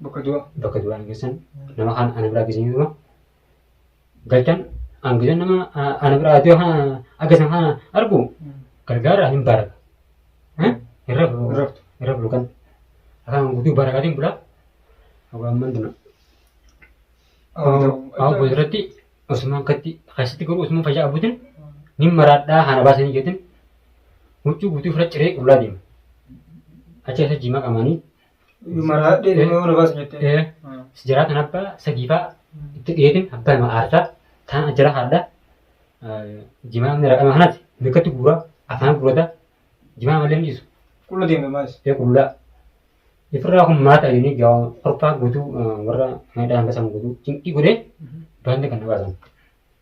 bakka du'a bakka du'aa geessan nama kaan ana biraa geessan jechuudha. Galchan hangisan nama a- ana biraa du'a kana agarsiisan kana argu gargaara hin baraka. Eh? Hin rafu. Hin raftu. Hin rafu kan. Akkaan guutuu barakaatiin bulaa. Hawaan mandina. Hawaa booda irratti Usmaan katti keessatti garuu Usmaan fayyaa abuutiin ni maraadhaa haana baasanii jeetiin huccuu guutuu fira ciree qullaa deema. Achi keessa jimaa qamaanii Maraadhee nama mana baasa jettee. Eh. Sijaraa tan abbaa sadii fa'a itti dhiyeetin abbaa nama aarsaa taan ajjara haadha jimaa inni raqama kanati mikkatti guura afaan guurata jimaa malee hin dhiisu Qulla deemna maalis. ee qullaa ifirraa kun maata jedhanii gaa korfaa guutuu warra midhaan basan guutuu cinqii godhee baanni kan na baasan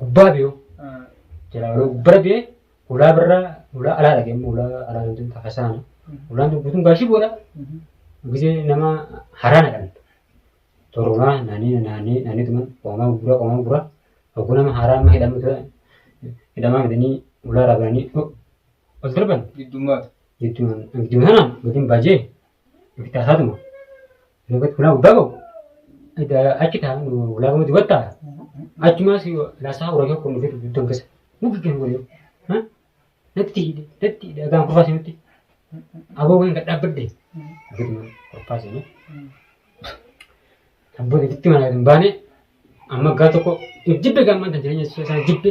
gubbaa biyo jira yeroo gubbara biye ulaa birra ulaa alaa dhage immoo ulaa alaa kan jentu hasaana ulaan tun guutuun gaashii boodha gisee nama haraa naqan torunaa naanii naanii naanii tuman qoomaa gurgura qoomaa gurgura hogguu nama haraa amma hidhamu ture hidhamaa midanii ulaa irraa bananii ol darban Giddummaatu. jechuun gidduu kanaan gadiin baajee ofitti haasaatuma Lagat kulaa guddaa qabu. Achi taa'an kulaa gama dubatta. Achumaas laasaa horaa kan kunuunfatu duddan keessa. Muki kan waliin. Natti hidhe natti hidhe agaan kurfaa seenutti. Aboo kan dhaabbadde. Guduma kurfaa seenee. Abboon itti mana hin baane amma gaa tokko jibbe gaamman kan jireenya isaa jibbe.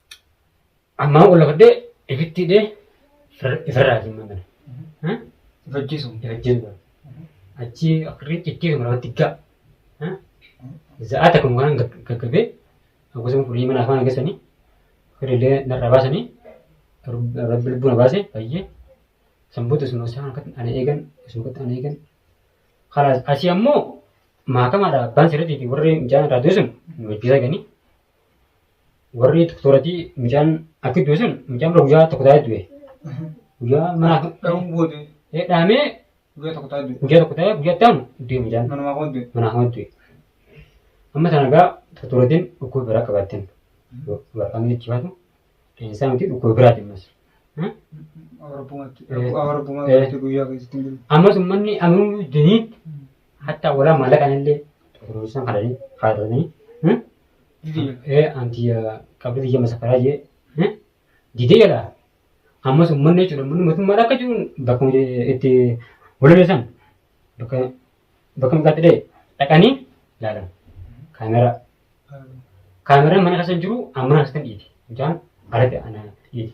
Ammaa wal lafadhee ifitti hidhee ifirraa hin mamane. Ifajjeesu. Ifajjeesu. Achi akirri cikkee kan lafatti gaa. Za'aa takka mukaan gaggabee akkasuma furii mana afaan agasanii firillee narraa baasanii rabbi lubbuu na baase bayyee sanboota isuma isaan akkatti ana eegan isuma akkatti ana eegan. Kalaas asii ammoo maakamaadha abbaan sirriitii fi warri mijaan irraa du'e sun nu hojjetaa ganii. warri doktoratii mucaan akka du'e sun mucaan bira guyyaa tokko taa'ee du'e. Guyyaa mana Dhahuun booda ee dhaamee guyyaa tokko taa'ee du'e. guyyaa tokko taa'ee guyyaa itti aanu du'e mucaan Manumaa koo du'e. manaa hama du'e. Amma sana egaa doktoratiin dhukkuba biraa qabaatteen waraqaan itti baatu leensaa miti dhukkuba biraa deemas. Awarabbumatti. Eh. Awarabbumatti guyyaa keessatti hin jiru. Ammas uummanni ammoo dinii Hatta wala malakan illee turusan kadani faadani. Hmm? Eh anti qabdi jama safara je. Hmm? Dide yala. Ammas ummanni jechuudha ummanni mootummaa akka jiruun bakka itti walibeessan bakka bakka maqaatti dhee dhaqanii ilaalan kaameraa kaameraan mana keessa hin jiru amma mana keessa hin dhiiti mucaan alatti ana dhiiti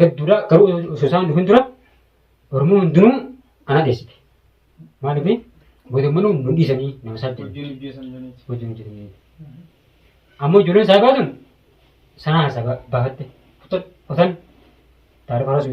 hedduudha garuu osoo isaan dhufin dura Oromoo hundinuu ana dheessite. Maaliif godammanuu nu dhiisanii nama saddeet Hojiin hojjetan jiraniiti. wajjin hojjetanii. Amma ijoolleen isaa baatun sanaa isaa ba- baafatte kutan kutan taarifa haasuu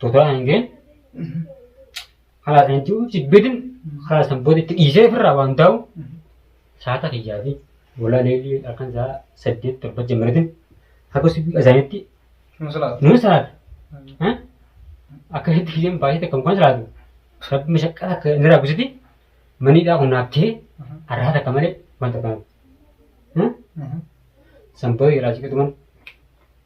Totaa hangeen halaatan jiru jibbidin halaatan booda itti dhiisee ofirraa waan taa'u saata kiyyaa fi walaa leelii halkan isaa saddeet torba jammaratin akka subii azaanitti Nama salaata. nama salaata. Eh? Akkasitti kiyyeen baay'ee takka mukaan salaatu rabbi mashaqqaa akka inni raabisiti maniidhaa kun naaf ta'ee arraa takka malee wanta kana. Eh? Sanboo irraa siqatuman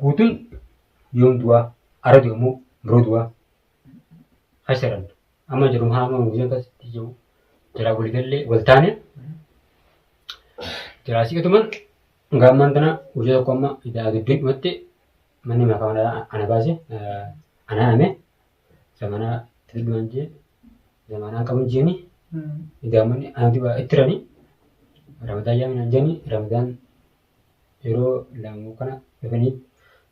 Guutun yoom du'aa? Ara du'e moo biroo du'aa? Hasaran. Amma jedhu haa amma guutan akkasitti jiru. Jalaa walii gallee wal taane. Jalaa siqatuman hanga ammaan tana guyyaa tokko amma idaa dubbiin dhumatti manni makaa mana ana baase ana hame zamanaa tilmaan jee zamanaa qabun jeeni idaa manni ana dibaa itti rani ramadaan yaamin an jeeni ramadaan yeroo laamuu kana dhufanii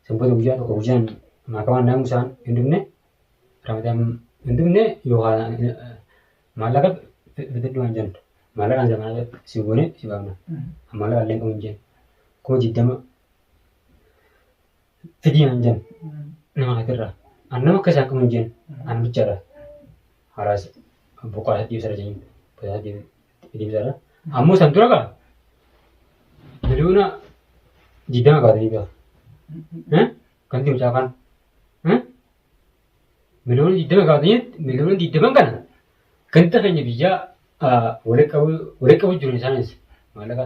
sanbata guyyaa tokko guyyaan maakamaan naamu isaan hin dhufne ramadaan hin dhufne yoo haala maallaqa fidadhu waan jennu maallaqaan zamanaa si goone si baafna maallaqa illee qabu hin jennu kuma digdama fidii hin jennu nama hatirraa an nama akka isaan qabu hin jennu an bichaadha haraas boqaa sadii sara jennu boqaa sadii Deebisaadha. Ammoo san dura gaa miliyoona digdama baatanii gaa. Eh? Kan deemu caafaan. Eh? Miliyoona digdama baatanii miliyoona digdaman kana ganda keenya biyyaa ah, walitti qabuu walitti qabuu jiru isaanis maallaqa.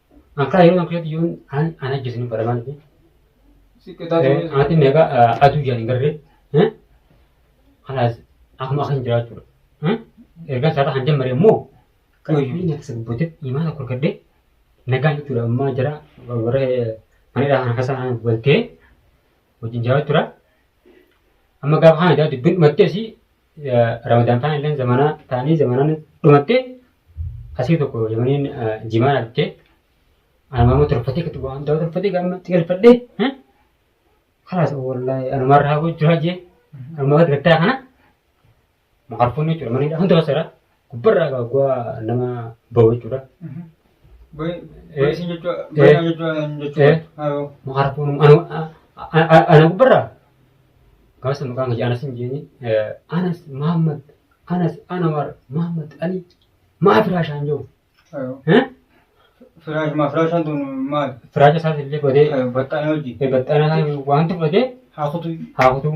Ankaa yeroo ankaa yoon an an ajjeesinu baramaan fi ati meeqa aduu jaan hin garre kanaas akkuma akkan jiraachuudha. Erga isaarra kan jammare immoo qayyuu nyaata sabbooteef imaana akka argadde nagaan jechuudha ammaa jara warra manadhaa kana keessa kan waltee wajjin jiraachuudha. Amma gaafa kana jaa dubbiin dhumattee si Ramadaan faan illee zamanaa taanii zamanaan dhumattee asii tokko yamaniin jimaa argitee anumaamoo tolfatee kan waan ta'u tolfatee gaama xiqilfadhee kalaas wallaahi anumaa irraa gochuu hajee anumaa gattaa kana makarfuun jechuudha maniidha hunda basara Gubbarraa egaa guwaa nama bahu jechuudha. Boyisiin jechuun boyinaa jechuun jechuudha. Haroo. Harkuun ana gubbarraa gaafa sana maqaan kiyya anas hin jeeni. Anas Mahammad anas Anwar Mahammad Ali maa firaashaan jiru. Haroo. Firaash maa firaashaan tun maali? Firaacha isaas illee godhee Baxxaanee hojii. baxxana isaa wanti godhee Haa kutuu. haa kutuu.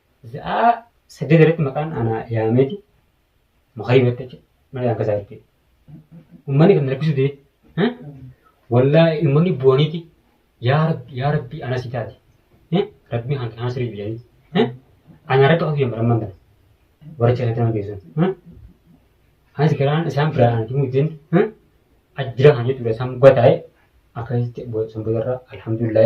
Za'aa saddeet irratti maqaan ana yaameeti makarii batte jechuudha. Mana yaan kasaa jechuudha. Uummanni kan rakkisuu dide. Wallaahi uummanni bu'aniiti yaa rabbi yaa rabbi ana si taate. Rabbi kan kana sirrii jedhanii. Ana irratti qofa fiigan baramman kana. Warra cirratti nama geessan. Anis garaan isaan biraa ana himuu dideen ajjira kan jechuudha isaan gataa'e akkasitti sanbata irraa alhamdulillah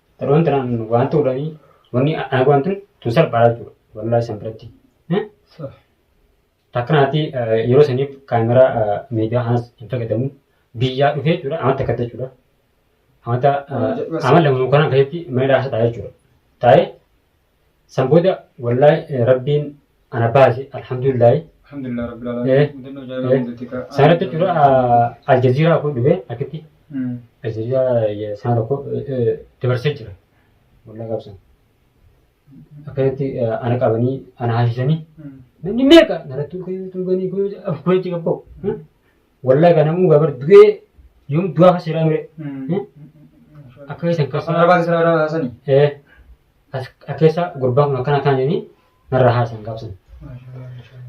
Taroon tanaan waan ta'uudhaani wanni ana waan tun tun salphaadha jechuudha. Wallaahi san biratti. Eh? Sah. Takkanaati eh, yeroo saniif kaameraa eh, miidiyaa kanas hin fayyadamu. Biyyaa dhufee jechuudha amma takka ta'e jechuudha. Amata Amma jedhu amma lamu kanaan keessatti mana hidhaa keessa taa'ee jechuudha. Taa'ee San booda wallahi eh, rabbiin ana baase alhamdulillahi. Alhamdulillah rabbil Eh, alamin. Mudannoo jaayilaa eh, hundatti ka. Sanatti jira aljaziiraa kun dhufe akkitti Mm. aljaziiraa sana tokko eh, eh, dabarsee jira. Wallahi qabsan. Akkasitti eh, ana qabanii ana haasisanii Mm. namni meeqa naratti ulfanii tuuganii kunuunsi qabboo. Wallahi kana muu gabar du'ee yoom du'aa kan seeraa mire. Akka keessan keessa. Afaan Arabaa keessaa irraa haasani. Eh, as- akka keessa gurbaan kun akkana akkana jedhanii narra haasan gaafsan.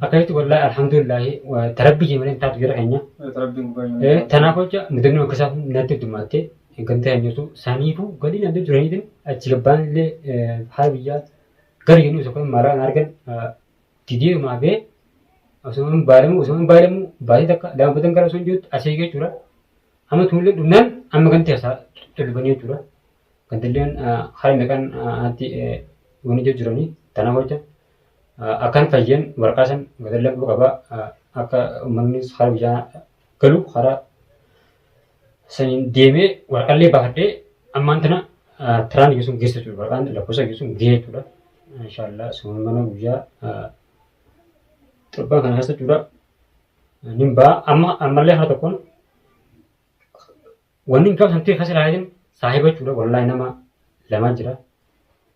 Akka jetti wallahi alhamdulillahi wa- tarabbii jimreen taatu jira keenya. Rabbiin gubbaa hin Eh, Tanaaf jecha mudannoo akka isaa natti dumaattee eeggamtee kan jirtu saniifuu galii naan deemtu jiraniitiin achi gabbaan illee haala biyyaa gari jennu isa kun maaraan argan Gidee maabee osoo hin baalamu osoo hin baalamu baasii takka daanfatan gara osoo hin jirutti asii jechuudha. Amma tuullee dhumnaan amma ganti hasaa tolfanii jechuudha. Gandilleen haala meeqaan anatti wanni jijjiiranii tanaaf hojja. Akkan fayyeen waraqaa san gadallee qaba akka uummannis haala biyyaa galu karaa saniin deemee waraqallee baafadhee ammaan tana tiraan geessuun geessa jechuudha. Waraqaan lakkoofsa geessuun gahee jechuudha. Inshaallah sumaan mana guyyaa torbaan kana keessa jechuudha. Nin ba'a amma ammallee haala tokkoon wanni hin qabne santii keessa ilaalin saahiba jechuudha. Wallaahi nama lamaa jira.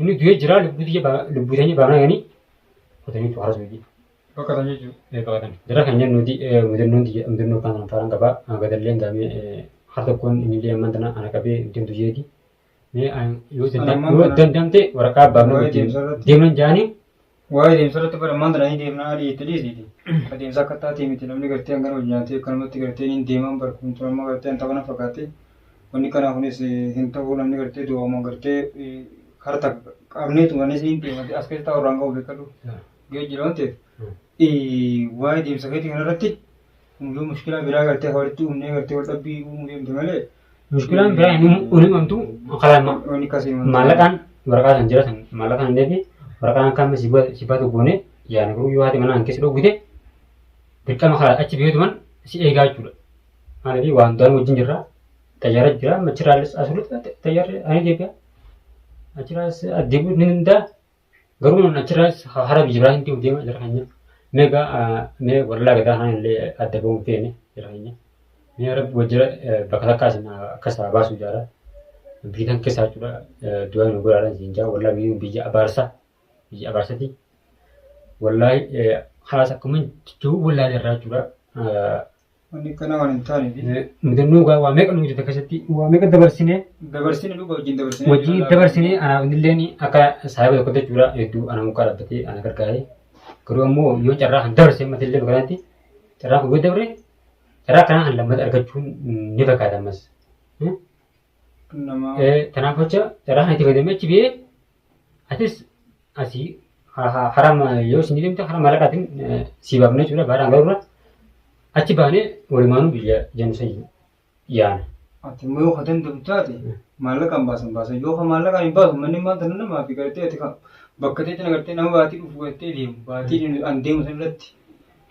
Inni du'ee jira lubbuu tiyya ba- lubbuu tanya baanaa ganii kotanii tu harasuu jee. Baqatan jechuudha. Eh, baqatan. Jara kan jennu nuti eh, mudannoon tiyya mudannoo kan kan faaraan qabaa Ah, gadallee hin gaamee eh, har tokkoon innillee ammaan tana ana qabee ittiin du'eeti. Mee ah, yoo Ana danda'am- ammaan yoo tana- danda'amte waraqaa abbaa Waa'ee mana deemsa irratti- deeman jaanii Waa'ee deemsa irratti bara maal jedhanii deemnaa adii itti dhiisiiti. Ka deemsa akka taatee miti namni gartee hangana hojii nyaatee akkanumatti gartee niin deemaan bara kun tun amma gartee hanta kana fakkaatti. Wanni kanaa kunis hin ta'uu namni gartee du'aama gartee harta qabnee tumanis niin deemati as keessaa warraan ga'u beekadhu. Ga'ee jira waan ta'eef. Waa'ee deemsa keetii kanarratti yoo mushkilaa biraa gartee walitti uumnee gartee wal dhabbii uumuu deemte malee Mushkilaan biraa inni uni mamtu karaa ma- Uni kasii mamtu. maallaqaan waraqaa san jira san maallaqaan hin deebi waraqaan akka amma si baatu goone yaana garuu yoo haati manaa hin keessa dhoggite dirqama karaa achi biyyoota man si eegaa jechuudha. Maaliif waan daan wajjin jirra xayyaara jira machiraalis asirratti xayyaarri ani deebi'a achiraas addeebi'u ni danda'a Garuu namni achirraas hara biyya biraa hin deema jira keenya. Mee egaa mee warra gadaa kana illee adda ba'uu hin feene jira keenya. Mee rabbi wajjira bakka takkaa isin akka isaa baasu jaara. Biyyi kan keessaa jechuudha du'a nu godhaadhaan isin jaa warra biyyi biyya abaarsa biyya abaarsati. Wallaahi haas akkuma jechuu wallaahi irraa jechuudha. Wanni akkanaa waan hin taaneef. Mudannoo gaa waa meeqa nu hojjeta keessatti waa meeqa dabarsinee Dabarsine dhuga wajjin dabarsine. wajjin dabarsinee anaaf illeen akka saayiba tokko jechuudha hedduu ana mukaa dhaabbatee ana gargaaree garuu ammoo yoo carraa kan dabarsee mata illee bakanaatti carraa kun yoo dabre carraa kanaa kan lammata argachuun ni fakkaata ammas. Nama. Kanaaf jecha carraa kan itti fayyadamee achi biyee Atis asii harama yoo isin deemte harama malaqaatiin sii baafnee jechuudha baadhaan garuu achi baanee walumaanuu biyya jennu san yaana. Ati immoo yoo ka danda'u taate maallaqaan baasan baasa. Yoo ka maallaqaan hin baasu manni maal tana namaa fi gartee ati bakka ta'etti nagartee nama baatii dhufu gartee deemu baatii an deemu san irratti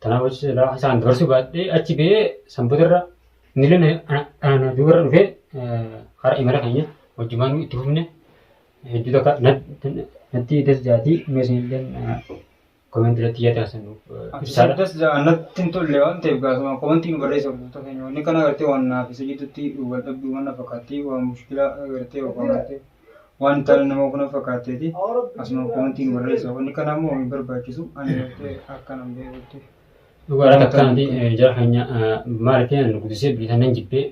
Tanaaf achi silaa isaan dabarsuu baadhee achi ba'ee sanbata irra nillee ana duuba irra dhufee hara imala keenya wajjumaan itti fufne hedduu takka natti das jaatii mee isinillee komentii irratti yaada keessan nuuf Isaan das ja'an natti hin tolle waan ta'eef gaasuma komentii nu barreessa hordoftoota keenya wanni kana agartee waan naaf isa jidduutti wal dhabduu mana fakkaatti waan mushkilaa agartee waan agartee. waan taane nama kuna fakkaatteeti asuma komantiin barreessa wanni kana immoo hin barbaachisu ani gartee akkanan beekutti dhugaadhaan akkanati jara keenya maalitii nan guddisee biitan nan jibbee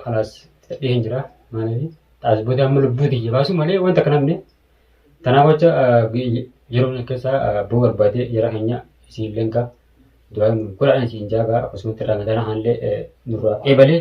kalaas fedhee hin jira maaliif xaasboota amma lubbuu tiyya baasuu malee wanta kana himne tanaaf wacha yeroo kana keessa boo barbaadee jara keenya isiin lenka du'aa godhaan isiin jaagaa akkasumatti ramadana haallee nurraa eebalee